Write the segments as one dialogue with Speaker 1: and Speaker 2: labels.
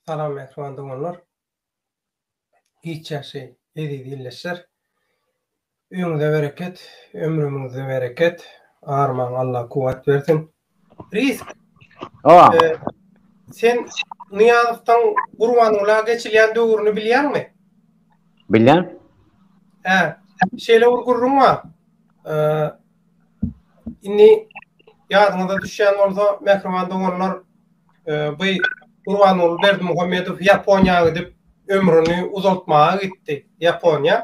Speaker 1: Salam mähriban doganlar. Hiç ýaşy eziz ýilleşler. Öýüňize bereket, ömrümiňize bereket, armaň Allah kuwwat bersin. Ris. Salam. Sen Nyýazowdan Gurbangula geçilýän döwrüni bilýäňmi? Bilýän.
Speaker 2: Hä.
Speaker 1: Şeýle bir gürrüň bar. Indi ýadyňyza düşýän bolsa, mähriban doganlar, bu Gurbanguly Berdimuhamedow Ýaponiýa gidip ömrüni uzaltmaga gitdi. Ýaponiýa.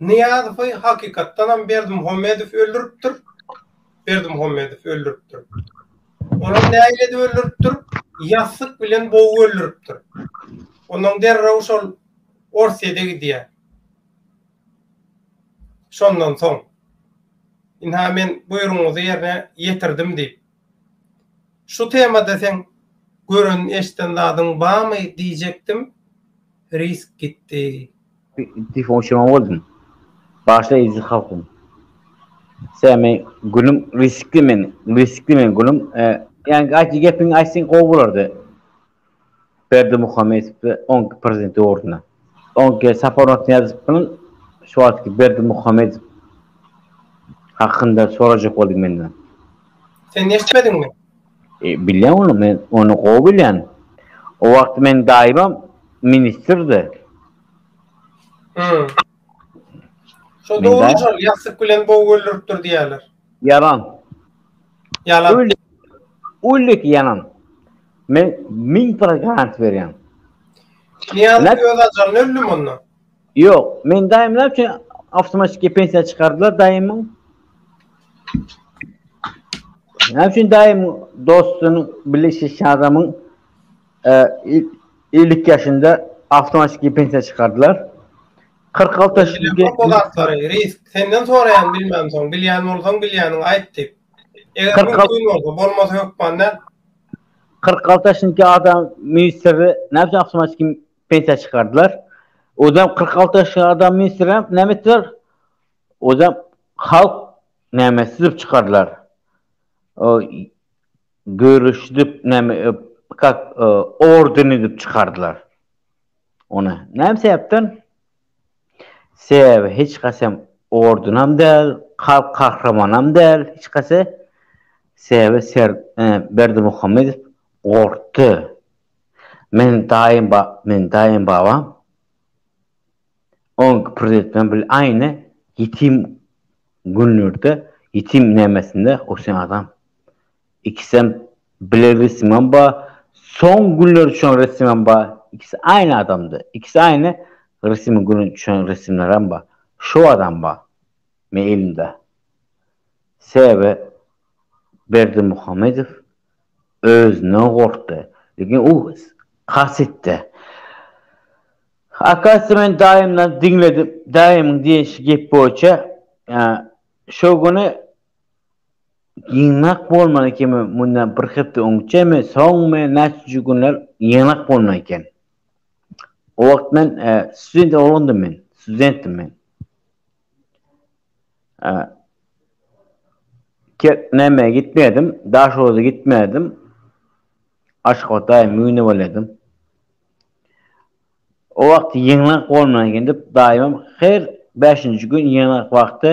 Speaker 1: Nyýazowy hakykatdanam Berdimuhamedow öldüripdir. Berdimuhamedow öldüripdir. Olam nähili edip öldüripdir? Ýassyk bilen bogup öldüripdir. Ondan derrew şol Orsýede gidýär. Şondan soň. Ynha men buýrugyňyzy ýerine ýetirdim diýip. Şu temada seň gören eşden zadyň bamy diýjekdim risk gitdi. Pif on
Speaker 2: şema boldum. Başla eziz halkym. Sen men gülüm riskli men riskli men gülüm. Ýa aýt gepiňi aýtsaň gowy bolardy. Berdimuhamedowy oň prezident ýurduna. Oň ki Sapar Nurnyýazowyň şu wagtky Berdimuhamedow hakynda sorajak boldy menden. Sen
Speaker 1: eşitmediňmi? E, bilýän
Speaker 2: ony, men ony gowy bilýän. O wagt meniň daýymam ministrdi. Hum. Şo dogry
Speaker 1: şol ýassyk bilen bogy öldüripdir diýýärler. Ýalan.
Speaker 2: Ýalan. Öl, öldük ýalan. Men min para garant berýän. Niýaz
Speaker 1: Nä- öz ajalyny öldüm onda. Ýok, men
Speaker 2: daýymlar üçin awtomatiki pensiýa çykardylar daýymyň. Näme üçin daýym dostunyň bilişişi adamyň e, il- 50 ýaşynda awtomatiki pensiýa çykardylar? Kyrk alty ýaşyna gelip, risk
Speaker 1: senden soraýan bilmän soň, bilýän bolsaň bilýäniňi aýt diýip. Eger mümkin bolsa, bolmasa hökman däl. Kyrk
Speaker 2: alty ýaşyndaki adam ministri näme üçin awtomatiki pensiýa çykardylar? Özem kyrk alty ýaşly adam ministr näme etdiler? Özem halk näme sizdip çykardylar? Görüşdip näme kak orden edip çykardylar. Ony näme sebäpden? Sebäbi hiç kasem ordunam däl, halk kahramanam däl hiç kase. Sebäbi ser Berdimuhamedow gorkdy. Meniň daýym ba, meniň daýym babam oňki prezident bilen bil aýny ýetim günlerde, ýetim nämesinde o sen adam. Ikisem bile resimem ba soň günler üçen resimem ba ikisi aýny adamda ikisi aýny resimi güni üçen resimlerem ba şo adam ba me elimda sebäbi berdimuhamedow özünden gorkdy lekin u has etdi akasya men daýymdan diňledim daýymyň diýen gep boýunça şo güni Ýygnak bolmana kemi mundan bir hepde öňçemi, soňmy, näçenji günler ýygnak bolna eken. O wagt men student oglandym men, studentdim men. Näme gitmedim, Daşoguza gitmedim. Aşgabada müne bolýadym. O wagt ýygnak bolna eken diýip daýymam her bäşinji gün ýygnak wagty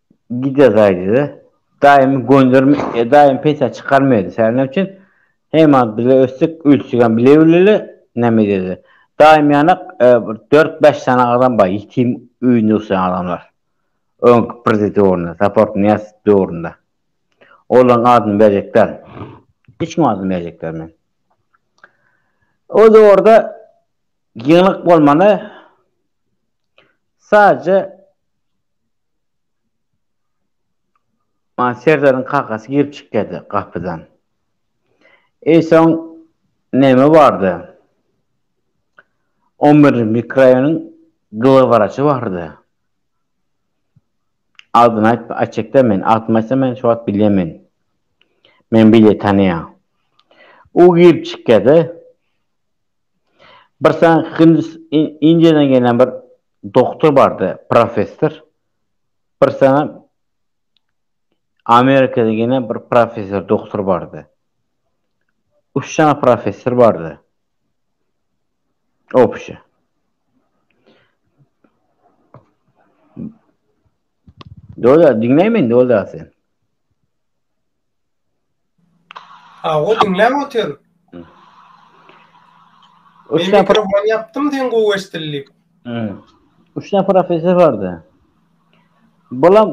Speaker 2: Gider gaýdyda daýymy gönderme e daýym peýsa çykarmaýdy säne üçin heýman bile ötsek ölçegem bile bileli näme edeli daýym ýanak e bir dört bäş sany adam bar ýetim öýünde oturan adamlar öňki prezident döwründe saport nyýaz döwründe olaň adyny berjek däl hiç kim adyny berjek däl men o döwürde ýygnak bolmana sadece Maňa Serdaryň kakasy girip çykýardy gapydan. Eý soň näme bardy? On birinji mikraýonyň glawwraçy bardy. Adyny aýtma, aýtjakda men, adymy aýtsam men şu wagt bilýän men. Men bile tanaýan. U girip çykýardy. Birsaň hindis, indiýadan gelen bir Doktor barde professor bir saňa Amerikada gene bir professor doktor barde. Üç saňa professor barde. Opşe. Dola dinleýmen dola sen.
Speaker 1: Awa diňläp otyr. Üç näfar mikrofon ýapdym sen gowy eşdilip.
Speaker 2: Üç näfar ofiser bardy. Bulam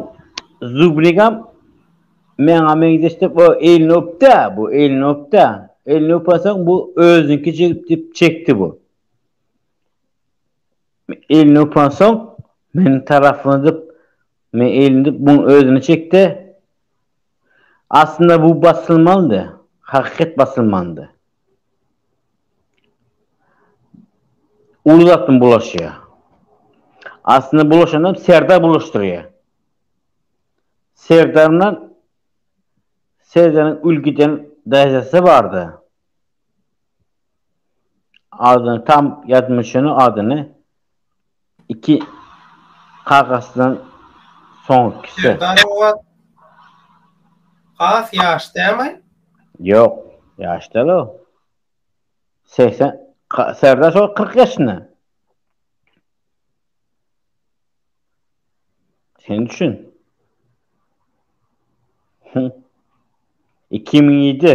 Speaker 2: Zubnigam meňa meňzeş diýip o elini öpdi, bu elini öpdi. Elini öpensoň bu özüniňki jigip diýip çekdi bu. Elini öpensoň meniň tarapyma dip men elini dip muň özüne çekdi. Aslynda bu basylmalydy, hakykat basylmalydy. Uly zat bilen bulaşýar. Aslynda bulaşanam Serdar bulaşdyrýar. Serdar bilen Serdaryň ülgiden daýzasy bardy. Adyny tam ýadyma şony adyny iki kakasyndan soňukisi. Serdar Ogat
Speaker 1: has ýaş dämi? Ýok,
Speaker 2: ýaş däl o. Segsen, Serdar şo kyrk ýaşynda. Sen düşün. Hü. Iki müň ýedi.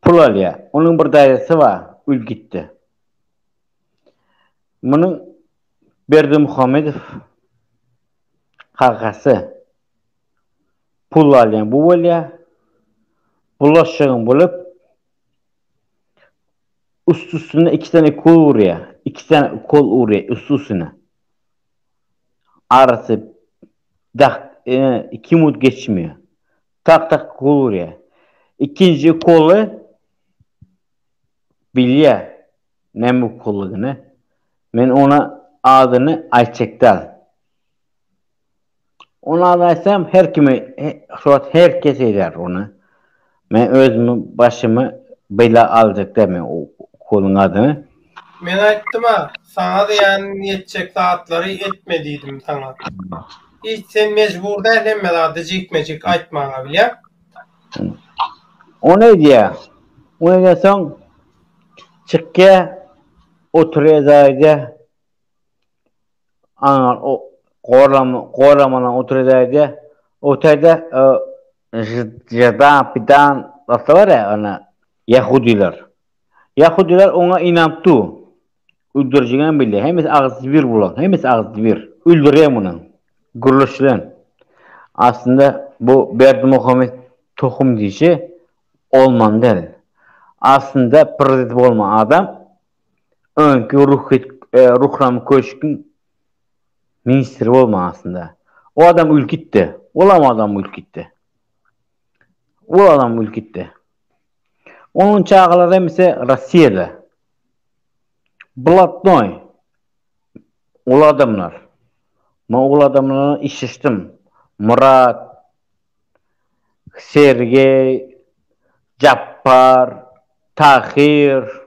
Speaker 2: Pul alýar. Onuň bir daýzasy bar, Ülgitde. Munuň Berdimuhamedow kakasy. Pul alýan bu bolýar. Bulaşygyň bolup, üst-üstüne iki sany ukol urýar. Iki sany ukol urýar üst-üstüne. Arasy dak, iki minut geçmeýär. Tak tak gol urýa. Ikinji ukoly bilýä näme ukollygyny. Men ona adyny aýtjak däl. Ony adyny aýtsam her kimi şu wagt her kes edýär ony. Men özümi başymy bela aljak däl men o ukolyň adyny. Men aýtdym-a,
Speaker 1: saňa zyýan ýetjek zatlary etme diýdim saňa. Hiç sen mejbur däl hemme zady jikme-jik aýtmaga, bilýäň?
Speaker 2: Ony edýär. Ony edensoň, çykýar, otrýadaýda, aňa gorlamadan otrýadaýda, o taýda žydan-pidan zatlar bar-a, ýahudylar. Ýahudylar oňa ynanyp dur. Öldürijigem bilýär. Hemmesi agzysy bir bulaň. Hemmesi agzysy bir. Öldüräý muny. Gürleşilen. Aslynda bu Berdimuhamet tohum diýşi olmaly däl. Aslynda prezident bolmaly adam öňki ruhit Ruhram köşkiň ministri bolmaly aslynda. O adam ülkitdi. Olam adam ülkitdi. Ol adam ülkitdi. Onuň çagalary hem ise Rossiýada. Blatnoý, uly adamlar. Men uly adamlar bilen işleşdim. Murat, Sergeý, Jappar, Tahyr.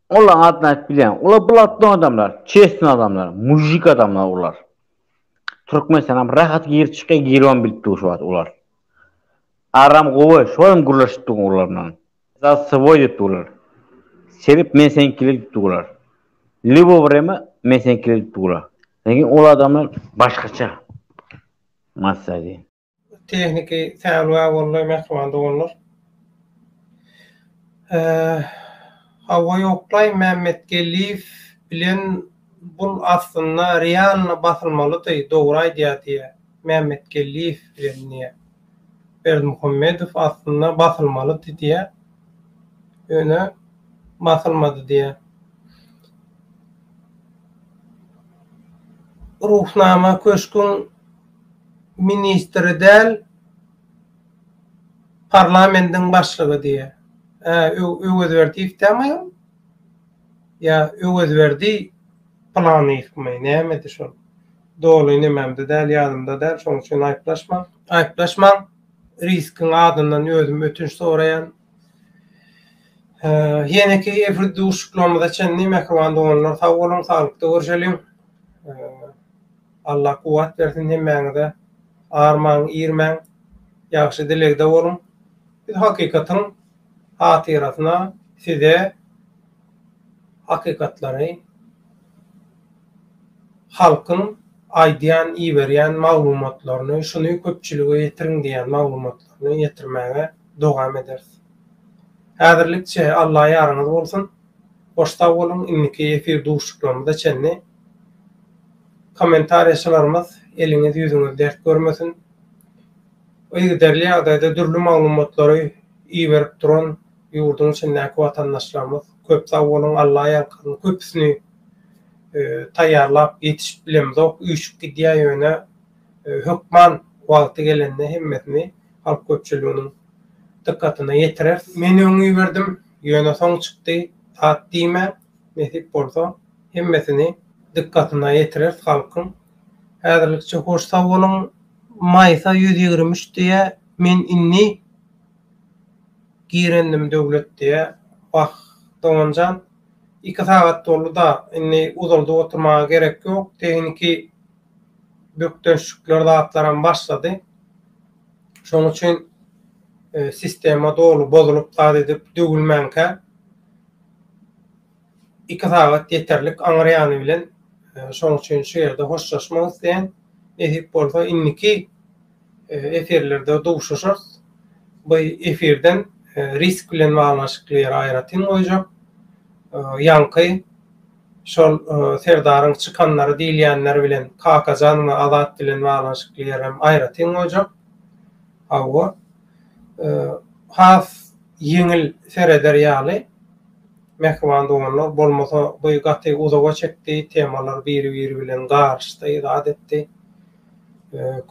Speaker 2: Olaryň adyny aýdyp bilýän. Olar blatnoý adamlar, çestnoý adamlar, mujik adamlar olar. Türkmenistana rahat girip çykýar, giribem bilipdi şu wagt olar. Aram gowy şol hem gürleşip durgun olar bilen za svoý diýip durlar sebep men seňkiler diýip durlar libo wrema men seňkiler diýip durlar lekin ol adamlar başgaça massa diýen. Tehniki
Speaker 1: säwlä bolly mähriban doganlar. Hawa ýoklaý Mämmetgeldiýew bilen Bul aslynda realno basylmalydy dogry aýdýa diýä Mämmetgeldiýew bilen diýä Berdimuhamedow aslynda basylmalydy diýä ýöne basylmady diýä Ruhnama köşküň ministri däl parlamendiň başlygy diýä hä Öwezberdiýew dämi aýal. ýa Öwezberdi Pylanýewmi, nämedi şol? Doly nememde däl, ýadymda däl, şonuň üçin aýyplaşmaň. Aýyplaşmaň, Riskiň adyndan özüm ötünç soraýan. Ýeneki efir duşuşyklarymyza çenli, mähriban doganlar, sag boluň, saglykda görşeliň. Allah kuwwat bersin hemmäňize. Armaň, irmäň, ýagşy dilegde boluň. Biz hakykatyň hatyrasyna size hakykatlary halkyň aýdýan iberýän maglumatlaryny şuny köpçülige ýetiriň diýýän maglumatlaryny ýetirmäge dowam ederis. Häzirlikçe Alla ýaryňyz bolsun. Hoş sag boluň indiki efir duşuşyklarymyza çenli kommentariýaçylarymyz eliňiz ýüzüňiz dert görmesin. Yzygiderli ýagdaýda dürli maglumatlary iberip duran ýurduň içindäki watandaşlarymyz köp sag boluň Alla ýalkasyn köpüsini taýýarlap ýetişip bilemzok üýşüp gidýär ýöne hökman wagty gelende hemmesini halk köpçüliginiň dykgatyna ýetireris. Men öň iberdim ýöne soň çykdy zat diýmäň nesip bolsa hemmesini dykgatyna ýetireris halkyň. Häzirlikçe hoş sag boluň. Maýsa ýüz ýigrimi üç diýýä men inni girendim Döwlet diýýä wah doganjan iki sagat boldy da inni uzaldyp oturmaga gerek ýok tehniki bökdençlikler zatlaram başlady şoň üçin sistema doly bozulyp zat edip döwülmänkä Iki sagat ýeterlik aňryýany bilen şoň üçin şu ýerde hoşlaşmak isleýän. Nesip bolsa indiki efirlerde duşuşarys. Bu efirden risk bilen baglanyşykly ýeri aýratyn goýjak. Ýaňky şol Serdaryň çykanlary diýilýänler bilen Kakajan we Azat bilen baglanyşykly ýeri hem aýratyn goýjak. Hawa. Has ýeňil sereder ýaly. Mähriban doganlar bolmasa by gaty uzaga çekdi temalar biri biri bilen garyşdy zat etdi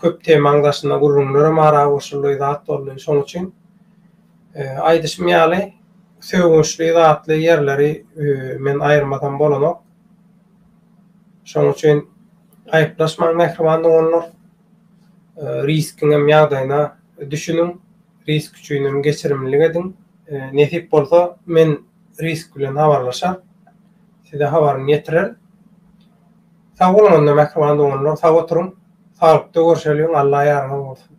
Speaker 1: köp temaň daşynda gürrüňlerem ara goşuldy zat boldy şoň üçin aýdyşym ýaly sögünçli zatly ýerleri men aýyrmasam bolanok şoň üçin aýyplaşmaň mähriban doganlar riskiňem ýagdaýyna düşüniň. Risk üçinem geçirimlilik ediň. Nesip bolsa men Risk bilen habarlaşar. Size habaryny ýetirer. Sag boluň onda mähriban doganlar sag oturyň. Saglykda görşeliň Alla ýaryňyz bolsun.